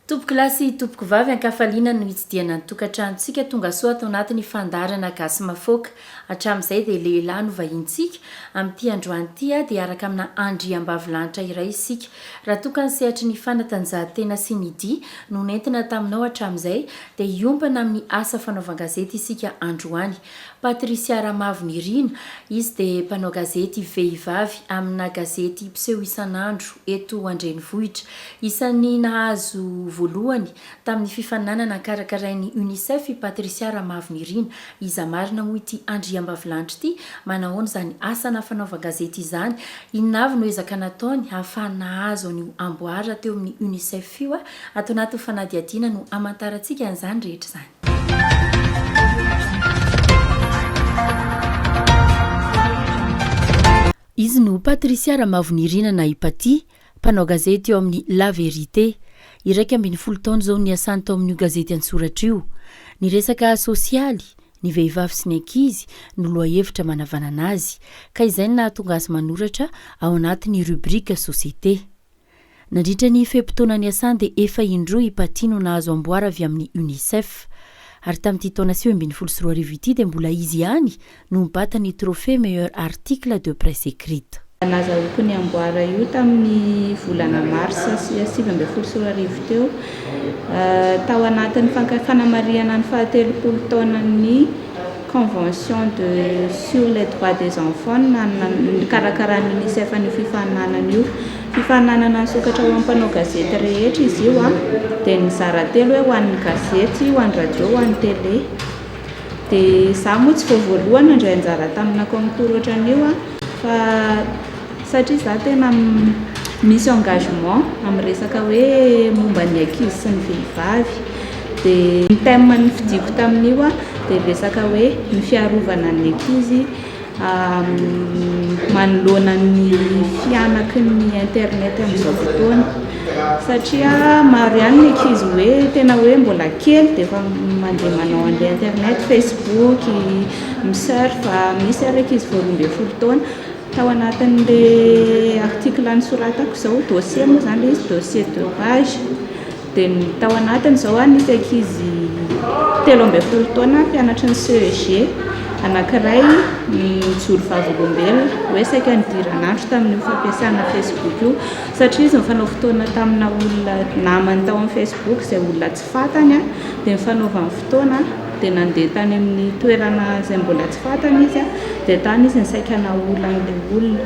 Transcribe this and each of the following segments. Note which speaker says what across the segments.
Speaker 1: Tompoko lahy sy tompoko vavy ankafaliana no itsidihana ny tokantranontsika tongasoa ato anatin'ny fandaharana Gasy Mafoaka. Hatramin'izay dia lehilahy no vahinintsika, amin'ity androany ity dia araka amina andriambavilanitra iray isika. Raha toa ka ny sehatry ny fanatanjahantena sy ny dihy no nentina taminao hatramin'izay dia hiompana amin'ny asa fanaovan-gazety isika androany. Patricia Ramavo Nirina, izy dia mpanao gazety vehivavy amina gazety mpiseho isan'andro eto an-drenivohitra. Isan'ny nahazo voalohany Tamin'ny fifaninanana karakarain'ny Unicef i Patricia Ramavinirina. Iza marina moa ity andriambavilanitra ity? Manahoana izany asana fanaovan-gazety izany? Inona avy no ezaka nataony hahafahany nahazo an'io amboara teo amin'ny Unicef io? Ato anatin'ny fanadihadiana no hamantarantsika an'izany rehetra izany. Izy no Patricia Ramavinirina na i Paty, Mpanao gazety eo amin'ny La Vérité. Iraika ambin'ny folo taona izao no niasany tao amin'io gazety an-tsoratra io. Ny resaka sosialy, ny vehivavy sy ny ankizy no lohahevitra manavanana azy, ka izay no nahatonga azy manoratra ao anatin'ny rubrique société. Nandritra ny fe-potoana niasany dia efa indroa i Patty no nahazo amboara avy amin'ny Unicef. Ary tamin'ity taona sivy ambin'ny folo sy roa arivo ity dia mbola izy ihany no nibata ny trophée meilleur article de presse écrite. Nazahoako ny
Speaker 2: amboara io tamin'ny volana marsa sivy ambin'ny folo sy roa arivo teo, tao anatin'ny fanamarihana ny fahatelopolo taonan'ny Convention de sur les droits des enfants nikarakaran'ny Unicef an'io fifaninanana io. Fifaninanana nisokatra ho an'ny mpanao gazety rehetra izy io, dia nizara telo hoe ho an'ny gazety, ho an'ny radio, ho an'ny télé. dia izaho moa tsy vao voalohany nandray anjara tamina concours ohatran'io an, fa satria izaho tena misy engagement amin'ny resaka hoe momba ny ankizy sy ny vehivavy, dia ny thème nifidiako tamin'io an dia resaka hoe ny fiarovana ny ankizy, manoloana ny fihanaky ny internet amin'izao fotoana satria maro ihany ny ankizy hoe tena hoe mbola kely dia efa mandeha manao an'ilay internet, facebook, mi surf, misy ary ankizy vao roa ambin'ny folo taona. Tao anatin'ilay article nosoratako izao, dossier moa izany ilay izy, dossier deux pages. Dia ny tao anatiny izao a, nisy ankizy telo ambin'ny folo taona mpianatry ny CEG anankiray nijoro vavolombelona hoe saika nidirana andro tamin'io fampiasana Facebook io satria izy nifanao fotoana tamina olona namany tao amin'ny Facebook izay olona tsy fantany dia nifanaovany fotoana dia nandeha tany amin'ny toerana izay mbola tsy fantany izy dia tany izy nisaika nahola an'ilay olona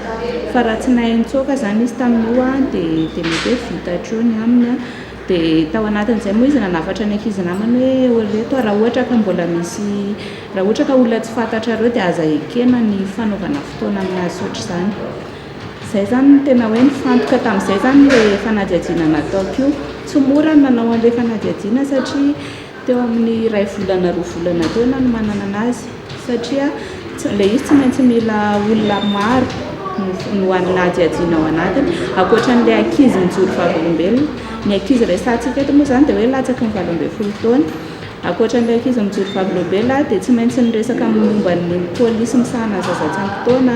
Speaker 2: fa raha tsy nahay nitsoaka izany izy tamin'io dia dia mety hoe vita hatreo ny aminy dia tao anatin'izay moa izy nanafatra ny ankizy namany hoe eo ireto aho raha ohatra ka mbola misy raha ohatra ka olona tsy fantatrareo dia aza ekena ny fanaovana fotoana amin'azy ohatr'izany izay izany no tena hoe nifantoka tamin'izay izany ilay fanadihadiana nataoko io tsy mora ny nanao an'ilay fanadihadiana satria Teo amin'ny iray volana roa volana teo nanomanana azy satria ilay izy tsy maintsy mila olona maro no anadihadiana ao anatiny ankoatran'ilay ankizy mijoro vavolombelona ny ankizy resahantsika eto moa izany dia hoe latsaky ny valo ambin'ny folo taona ankoatran'ilay ankizy mijoro vavolombelona dia tsy maintsy ny resaka momba ny polisy misahana ny zaza tsy ampy taona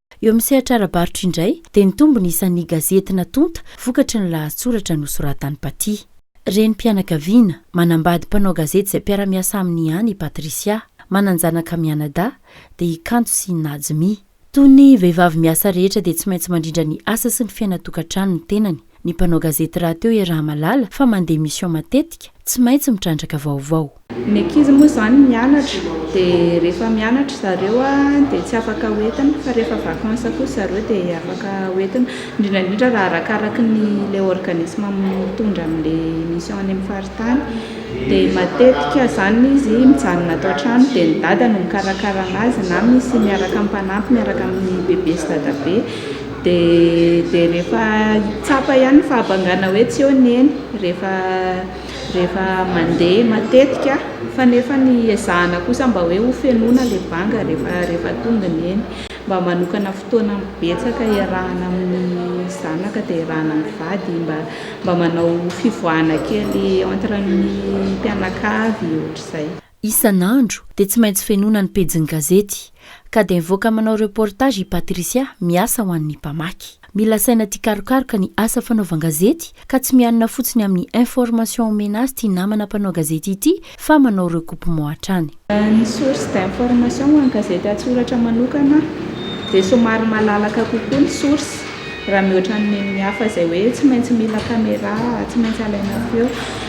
Speaker 1: Eo amin'ny sehatra ara-barotra indray dia nitombo ny isan'ny gazety natonta vokatry ny lahatsoratra nosoratan'i Patty. Renim-pianakaviana, manambady mpanao gazety izay mpiara-miasa aminy ihany i Patricia. Manan-janaka mianadahy, dia i Kanto sy i Najmi. Toy ny vehivavy miasa rehetra dia tsy maintsy mandrindra ny asa sy ny fiainan-tokantrano ny tenany. Ny mpanao gazety rahateo iaraha-mahalala fa mandeha mission matetika, tsy maintsy mitrandraka vaovao. Ny ankizy moa
Speaker 2: izany mianatra dia rehefa mianatra zareo dia tsy afaka hoentina fa rehefa vacances kosa zareo dia afaka hoentina, indrindra indrindra raha arakaraky ny ilay organisme mitondra an'ilay mission any amin'ny faritany dia matetika izany izy mijanona ato an-trano dia ny dada no mikarakara an'azy na misy miaraka mpanampy miaraka amin'ny bebe sy dadabe. Dia rehefa tsapa ihany ny fahabangana hoe tsy eo ny eny rehefa rehefa mandeha matetika fa nefa ny ezahana kosa mba hoe ho fenoina ilay banga rehefa rehefa tonga ny eny. Mba manokana fotoana betsaka iarahana amin'ny zanaka dia iarahana amin'ny vady mba mba manao fivoahana kely entre ny mpianakavy ohatr'izay. Isan'andro
Speaker 1: dia tsy maintsy fenoina ny pejin'ny gazety, ka dia mivoaka manao reportage i Patricia miasa ho an'ny mpamaky. Mila saina tia karokaroka ny asa fanaovan-gazety, ka tsy mianina fotsiny amin'ny information omena azy ity namana mpanao gazety ity fa manao recoupement hatrany. Ny source
Speaker 2: d'information ho an'ny gazety an-tsoratra manokana dia somary malalaka kokoa ny source. raha mihoatra ny neniny hafa izay hoe tsy maintsy mila camera, tsy maintsy alaina feo.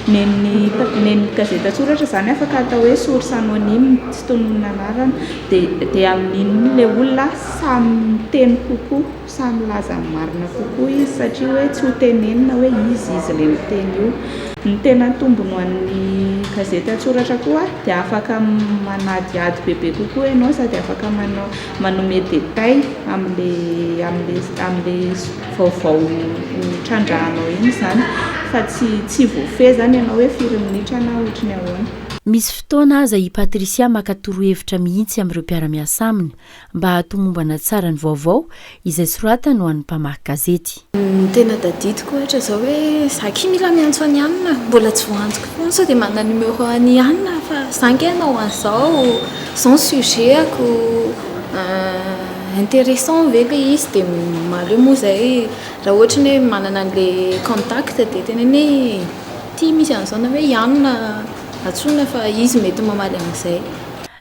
Speaker 2: Neniny neniny gazety an-tsoratra izany afaka atao hoe source anonyme, tsy tononina anarana, dia dia amin'iny ilay olona samy miteny kokoa, samy milaza ny marina kokoa izy satria hoe tsy ho tenenina hoe iza izy ilay miteny io. Ny tena tombony ho an'ny gazety an-tsoratra koa dia afaka manadihady bebe kokoa ianao sady afaka manao manome détail amin'le amin'le amin'le vaovao ho trandrahanao iny izany fa tsy tsy voafehy izany ianao hoe firy minitra na ohatry ny ahoana. Misy fotoana
Speaker 1: aza i Patricia maka torohevitra mihitsy amin'ireo mpiara-miasa aminy mba hahatomombana tsara ny vaovao izay soratany ho an'ny mpamaky gazety. Ny tena tadidiko
Speaker 3: ohatra izao hoe za akia mila miantso an'i Anna, mbola tsy voantoko foana, sao dia manana numéro an'i Anna aho fa za ange hanao an'izao, izao ny sujet-ko, intéressant ve ilay izy dia maro eo moa izay raha ohatra ny hoe manana an'ilay contact dia teneno hoe ity misy an'izao na hoe i Anna antsoina fa izy mety mamaly an'izay.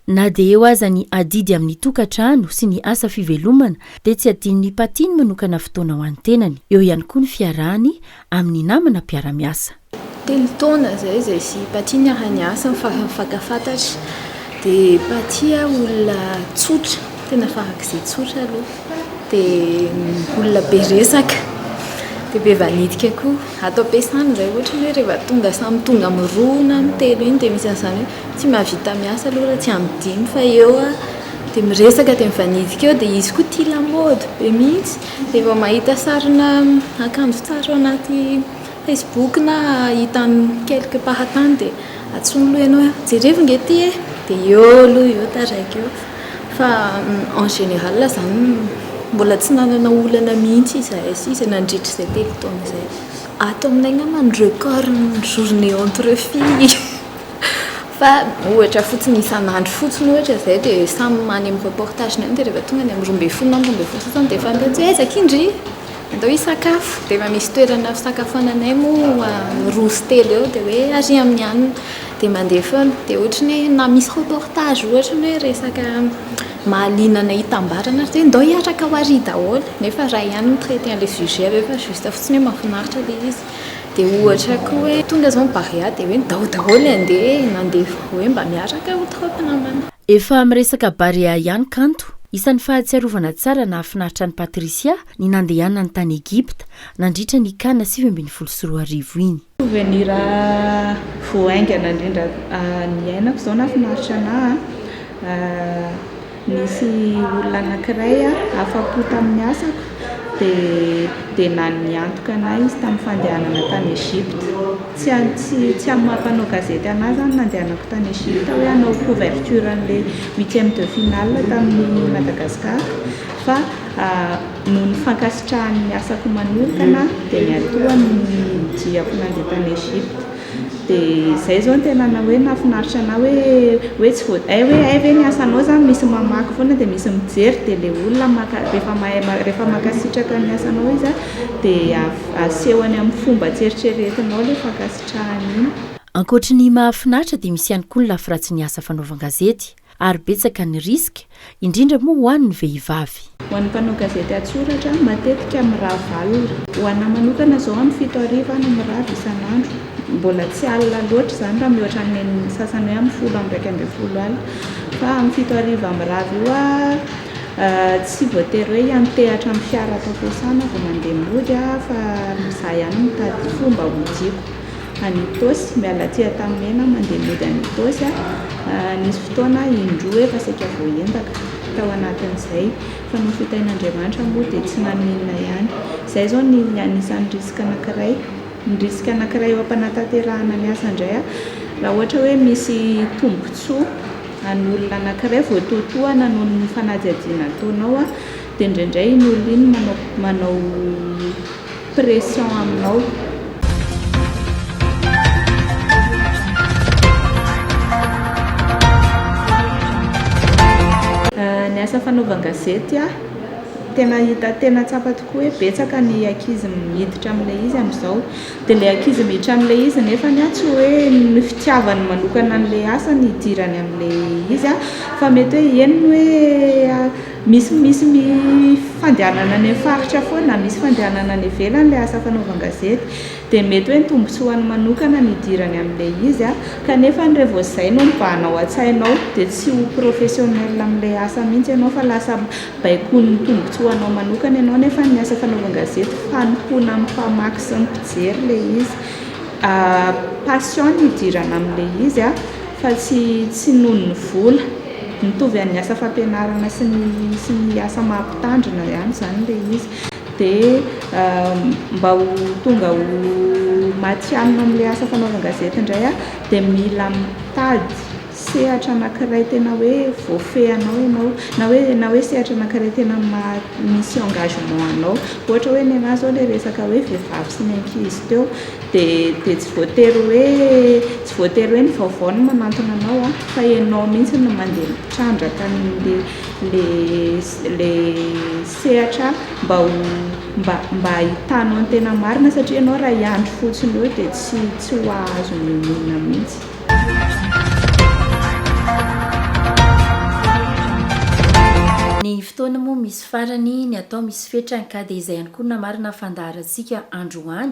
Speaker 3: Na dia
Speaker 1: eo aza ny adidy amin'ny tokantrano sy ny asa fivelomana dia tsy adinon'i Patty ny manokana fotoana ho an'ny tenany. Eo ihany koa ny fiarahany amin'ny namana mpiara-miasa. Telo taona
Speaker 3: izay izahay sy i Patty niara-niasa ny farany fantafantatra. Dia Patty a, olona tsotra, tena farak'izay tsotra aloha. Dia olona be resaka, dia be vanitika koa. Ato am-piasana izay, ohatra ny hoe rehefa tonga samy tonga amin'ny roa na amin'ny telo iny dia misy an'izany hoe Tsy mahavita miasa aloha raha tsy amin'ny dimy fa eo aho dia miresaka dia mivanidika eo dia izy koa tia lamaody be mihitsy dia vao mahita sarina akanjo tsara ao anaty facebook na hitany quelque part any dia antsoiny aloha ianao hoe jerevo nge ity e dia eo aloha eo taraiky eo fa en général izany mbola tsy nanana olana mihitsy izahay sisa nandritra izay telo taona izay. Ato aminay angamba ny record ny journée entre filles. Fa ohatra fotsiny isan'andro fotsiny ohatra izay dia samy any amin'ny reportage any dia rehefa tonga any amin'ny roa ambin'ny folo na amin'ny roa ambin'ny folo sasany dia efa any daholo hoe aiza akia ndry andao hisakafo dia efa misy toerana fisakafoananay moa roa sy telo eo dia hoe ary amin'ny alina dia mandeha foana dia ohatra ny hoe na misy reportage ohatra ny hoe resaka mahaliana anay hitambarana ary dia ndao hiaraka ho ary daholo nefa iray ihany no mi-traiter an'ilay sujet avy eo fa juste fotsiny hoe mahafinaritra ilay izy Dia ohatra koa hoe tonga izao ny Barea dia hoe ndao daholo andeha mandeha hoe mba miaraka ho troupes namana. Efa miresaka
Speaker 1: Barea ihany kanto. Isan'ny fahatsiarovana tsara nahafinaritra an'i Patricia ny nandehanany tany Egypta nandritra ny Can sivy ambin'ny folo sy roa arivo iny. Souvenir
Speaker 2: vao haingana indrindra niainako izao nahafinaritra anà. Nisy olona anankiray afa-po tamin'ny asako, dia niantoka an'ahy izy tamin'ny fandehanana tany Egypte. Tsy amin'ny maha mpanao gazety an'ahy izany ny nandehanako tany Egypte hoe hanao couverture an'ilay huitième de finale tamin'ny Madagascar, fa noho ny fankasitrahany ny asako manokana dia niantohany ny diako nandeha tany Egypte. Dia zay zao ny tena hoe nahafinaritra anah hoe hoe tsy vao hay hoe hay ve ny asanao zany misy mamaky foana dia misy mijery dia le olona maka rehefa mahay rehefa mankasitraka ny asanao izy an dia asehony amin'ny fomba tsy eritreretinao ilay fankasitrahany iny. Ankoatry ny
Speaker 1: mahafinaritra dia misy ihany koa ny lafy ratsin'ny asa fanaovan-gazety. ary betsaka ny risque, indrindra moa ho an'ny vehivavy. Ho an'ny mpanao gazety
Speaker 2: an-tsoratra, matetika mirava alina. Ho an'ahy manokana izao amin'ny fito hariva aho no mirava isan'andro. Mbola tsy alina loatra izany raha mihoatra ny nen'ny sasany hoe amin'ny folo amby iraika ambin'ny folo alina. Fa amin'ny fito hariva mirava io aho, tsy voatery hoe hiantehatra amin'ny fiara atao fiasana vao mandeha mody aho fa izaho ihany mitady fomba hodiako. Any Itaosy, miala aty Antanimena mandeha mody any Itaosy aho. Nisy fotoana indroa efa saika voaendaka tao anatin'izay fa noho fitahin'Andriamanitra moa dia tsy naninona ihany. Izay izao ny anisan'ny risque anankiray. Ny risque anankiray eo am-panatanterahana ny asa indray raha ohatra hoe misy tombontsoa an'olona anankiray voatoatohana noho ny fanadihadiana ataonao dia indraindray iny olona iny manao manao pression aminao. Ny asa fanaovan-gazety tena hita tena tsapa tokoa hoe betsaka ny ankizy miditra amin'ilay izy amin'izao dia ilay ankizy miditra amin'ilay izy nefany a tsy hoe ny fitiavany manokana an'ilay asa no hidirany amin'ilay izy a fa mety hoe eny ny hoe Misy misy ny fandehanana any amin'ny faritra foana na misy fandehanana any ivelany ilay asa fanaovan-gazety dia mety hoe ny tombontsoany manokana no idirany amin'ilay izy kanefa ny revô izay no mibahana ao an-tsainao dia tsy ho professionnel amin'ilay asa mihitsy ianao fa lasa baikoin'ny tombontsoanao manokana ianao nefa ny asa fanaovan-gazety fanompoana amin'ny mpamaky sy ny mpijery ilay izy passion no idirana amin'ilay izy fa tsy noho ny vola. Mitovy an'ny asa fampianarana sy ny sy ny asa maha mpitandrina ihany izany ilay izy. Dia mba ho tonga ho matihanina amin'ilay asa fanaovan-gazety indray aho dia mila mitady sehatra anankiray tena hoe voafehinao ianao, na hoe na hoe sehatra anankiray tena maha misy engagement anao. Ohatra hoe ny an'ahy izao ilay resaka hoe vehivavy sy ny ankizy teo dia dia tsy voatery hoe Tsy voatery hoe ny vaovao no manantona anao an, fa ianao mihitsy no mandeha mitrandraka an'le le le sehatra mba ho mba mba hahitanao ny tena marina satria ianao raha hiandry fotsiny eo dia tsy tsy ho hahazo ny olona mihitsy.
Speaker 1: Ny fotoana moa misy farany, ny atao misy fetrany ka dia izay ihany koa no namarina ny fandaharantsika androany.